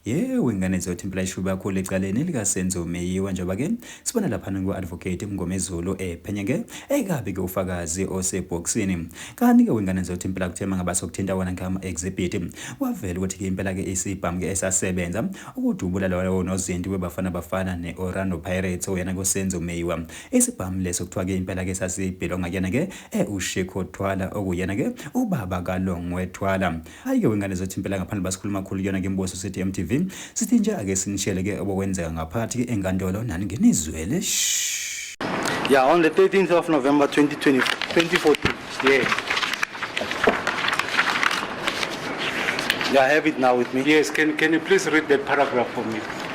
yewu ingane zothi impela ishuba kakhulu ecaleni elikasenzo meyiwa njengoba ke sibona laphana ku-advocate mngomezulu ephenya eh, ke eyikabi-ke ufakazi osebhokisini kanti-ke wengane zothi impela kuthema ngaba sokuthinta wona ngama-exhibit wavela ukuthi-ke impela-ke isibhamu-ke esasebenza ukudubula lowo nozinti webafana bafana ne-orlando pirates oyena kusenzo meyiwa isibhamu leso kuthiwa-ke impela-ke sasibhilonga kuyena-ke e uSheko Thwala okuyena ke ubaba kaLongwe Thwala ayike wengane zethu impela ngaphandle basikhuluma kakhulu kuyona ke imbuso sithi MTV sithi nje ake sinishele ke obokwenzeka ngaphakathi ke enkantolo nani ngenizwele yeah on the 13th of November 2020 2014 yeah Yeah, I have it now with me. Yes, can, can you please read that paragraph for me?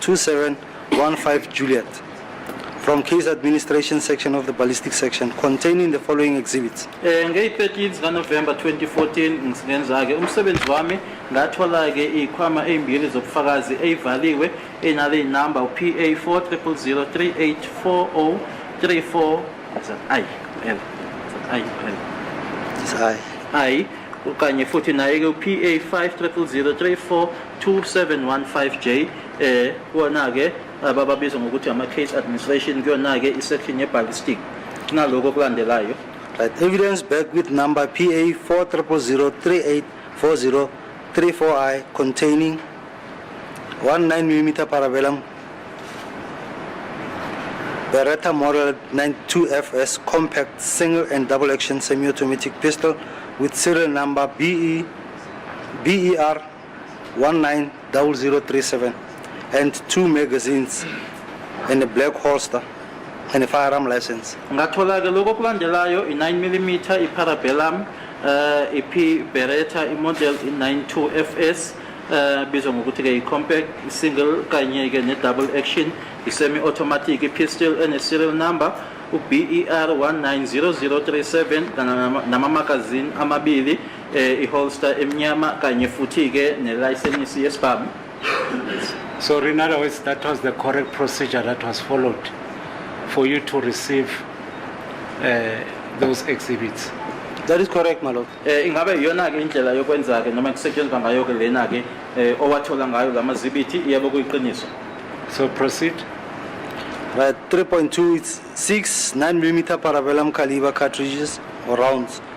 2715 Juliet from case administration section of the ballistic section containing the following exhibits eh ngeyi-13 zikanovemba 2014 ngenza-ke umsebenzi wami ngathola-ke iy'khwama ey'mbili zobufakazi ey'valiwe enale inamba u-pa 4003840340 ayi l ayi l ayi kanye futhi naye-ke u-pa 50034003 2715J eh kuwona ke abababiza ngokuthi ama case administration kuyona ke isection ye ballistic kunaloko okulandelayo right evidence back with number PA 4003840334I containing 19 mm parabellum Beretta Model 92FS compact single and double action semi-automatic pistol with serial number BE BER 190037 and two magazines and a black holster and a firearm license. ngathola ke lokho okulandelayo i-9 mm i-parabellum uh, ip beretta imodel i-92 fs uh, bizwa ngokuthi ke i-compact single kanye ke ne-double action i-semi-automatic i-pistol ene-serial number u-ber 190037 nama-magazine amabili eh, iholster emnyama kanye futhi-ke nelayisenisi yesibhamu So in other words, that was the correct procedure that was followed for you to receive uh, those exhibits. That is correct, my lord. eh, ingabe iyona-ke indlela yokwenza-ke noma kusetshenziswa ngayo-ke lena-ke eh, owathola ngayo la mazibithi yebo kuyiqiniso So proceed. Right, 3.2, it's six 9 millimeter parabellum caliber cartridges or rounds.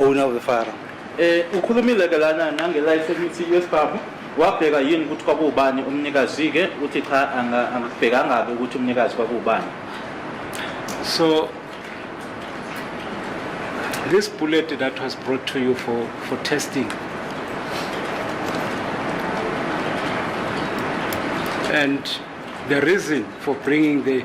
owner of the firearm eh ukhulumile ke lana nange license yesibhamu wabheka yini ukuthi kwakuwubani umnikazi ke uthi cha angakubhekanga ke ukuthi umnikazi kwakuwubani so this bullet that was brought to you for for testing and the reason for bringing the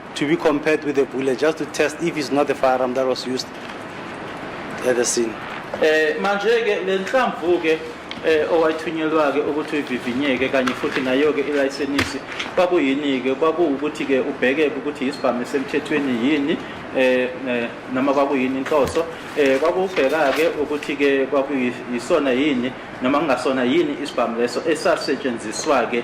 to be compared with a bullet just to test if it's not the firearm that was used at the scene. Eh manje ke lenhlamvu ke eh owayithunyelwa ke ukuthi uyivivinyeke kanye futhi nayo ke ilayisenisi kwakuyini ke kwakuwukuthi ke ubheke ukuthi isibhamu semthethweni yini eh, eh noma kwakuyini inhloso eh kwakubheka ke ukuthi ke kwakuyisona yini noma kungasona yini isibhamu leso esasetshenziswa ke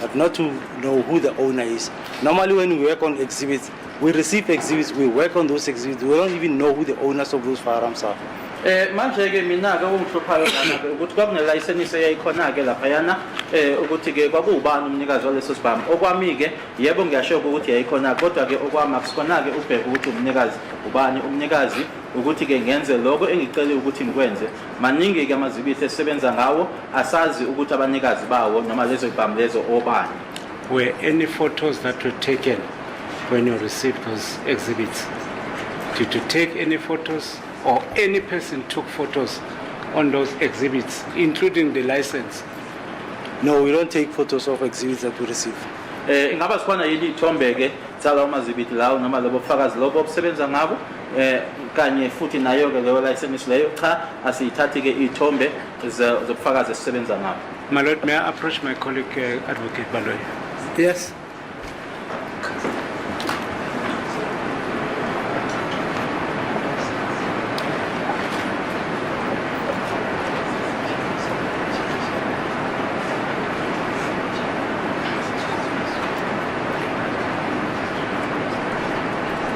But not to know who the owner is. Normally when we work on exhibits, we receive exhibits, we work on those exhibits, we don't even know who the owners of those firearms are. Eh manje ke mina ke ungihluphayo lana ke ukuthi kwakune license eyayikhona ke lapha yana eh ukuthi ke kwakubani umnikazi waleso sibhamu okwami ke yebo ngiyasho ukuthi yayikhona kodwa ke okwami akusikhona ke ubheke ukuthi umnikazi ubani umnikazi ukuthi ke ngenze lokho engicele ukuthi ngikwenze Maningi-ke amazibithi esisebenza ngawo, asazi ukuthi abanikazi bawo noma lezo ibhamu lezo obani. Were any photos that were taken when you received those exhibits? Did you take any photos or any person took photos on those exhibits, including the license? No, we don't take photos of exhibits that we receive. Eh ingaba sikhona yini ithombe ke sala umazibithi lawo noma lobo fakazi lobo obusebenza ngabo eh kanye futhi nayo ke leyo license leyo cha asiyithathi ke ithombe zobufakazi esisebenza ngabo my lord may i approach my colleague uh, advocate baloyi yes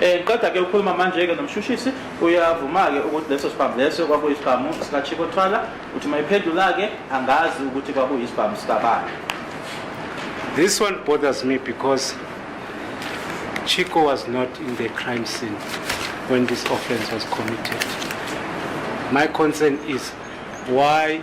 Eh, qeda ke ukhuluma manje-ke nomshushisi uyavuma-ke ukuthi leso sibhamu leso kwakuyisibhamu sikachiko thwala uthi uma iphendula-ke angazi ukuthi kwakuyisibhamu sikabani This one bothers me because Chico was not in the crime scene when this offense was committed. My concern is why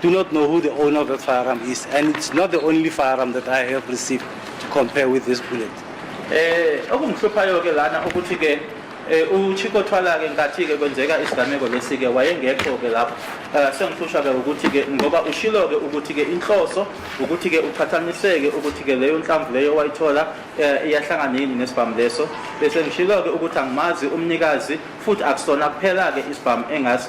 do not know who the owner of that firearm is, and it's not the only firearm that I have received to compare with this bullet. Eh okungihluphayo ke lana ukuthi ke eh, uChiko Thwala ke ngathi ke kwenzeka isigameko lesi ke wayengekho ke lapho eh, sengihlushwa ke ukuthi ke ngoba ushilo ke ukuthi ke inhloso ukuthi ke uqhathaniseke ukuthi ke leyo nhlamvu leyo wayithola eh, iyahlangana yini nesibhamu leso bese ngishilo ke ukuthi angimazi umnikazi futhi akusona kuphela ke isibhamu engazi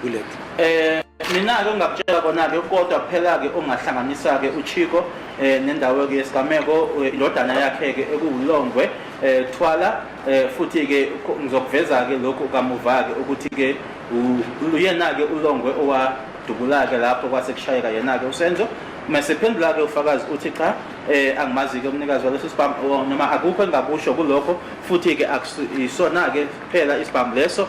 bullet eh mina-ke ongakutshela kona-ke kodwa kuphela-ke ongahlanganisa-ke uchiko um eh, nendawo-ke yesigameko eh, indodana yakhe-ke ekuwulongwe um thwala um futhi-ke ngizokuveza-ke lokhu kamuva-ke ukuthi-ke uyena-ke ulongwe owadubula-ke lapho kwase kushayeka yena-ke usenzo mesephendula-ke ufakazi uthi cha um angimazi-ke umnikazi waleso sibhamu noma akukho engingakusho kulokho futhi-ke isona-ke kuphela isibhamu leso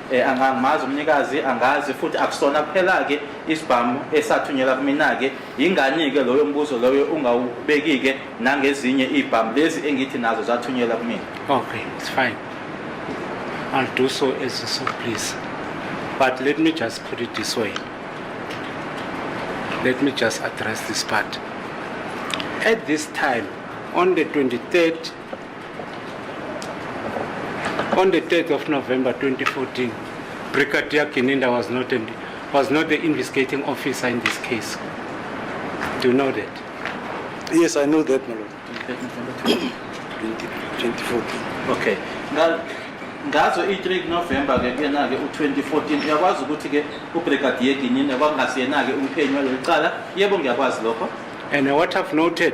Eh, angangimazi umnikazi angazi futhi akusona kuphela-ke isibhamu esathunyelwa kumina-ke yingani-ke loyo mbuzo loyo ungawubeki-ke nangezinye iy'bhamu lezi engithi nazo zathunyelwa kumina okay it's fine i'll do so as you so please but let me just put it this way let me just address this part at this time on the 23rd On the 3rd of November 2014, Brigadier Gininda was not, in, was not the investigating officer in this case. Do you know that? Yes, I know that, my lord. Okay. 2014. Okay. Now, ngazo i-3 november ke kuyena-ke u-2014 uyakwazi ukuthi-ke ubrigadier ginyine kwakungasiyena-ke umphenyi waleli cala yebo ngiyakwazi lokho and what i've noted